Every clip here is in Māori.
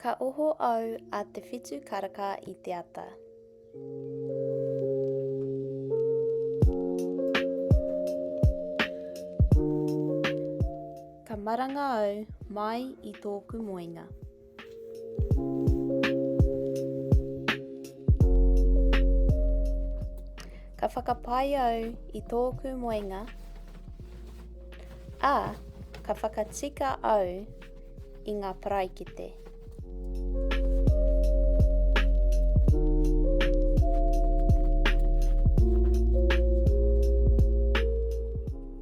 Ka oho au a te whitu karaka i te ata. Ka maranga au mai i tōku moenga. Ka whakapai au i tōku moenga, ā, ka whakatika au i ngā paraikete.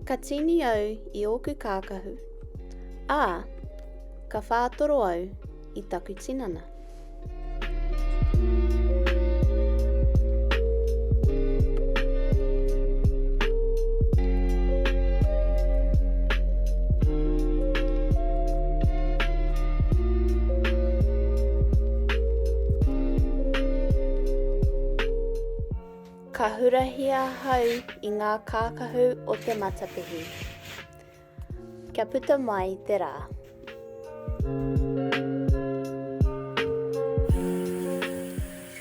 Ka tīni au i ōku kākahu, ā, Ka whātoro au i taku tinana. Ka hurahia hau i ngā kākahu o te matapihi. Kia puta mai te rā.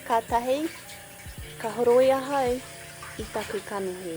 Kātahi ka horoi ahau i taku kanohi.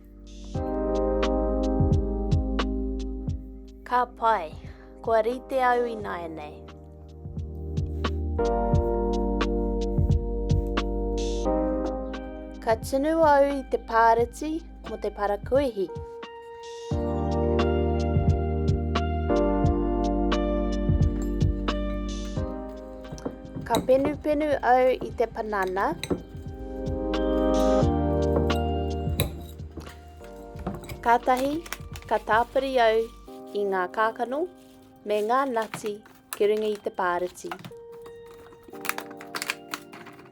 Ka pai. Kua rite au ināianei. Ka tunu au i te pāreti mo te parakuihi. Ka penupenu au i te panana. Kātahi, ka tāpiri au i ngā kākano me ngā nati ki runga i te pāriti.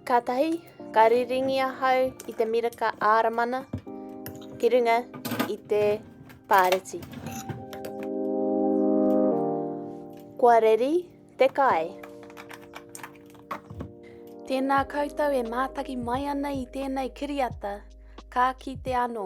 Kātahi, ka riringi ahau i te miraka āramana ki runga i te pāriti. Kua reri, Te Kai. Tēnā koutou e mātaki mai ana i tēnei kiriata, ka kite anō.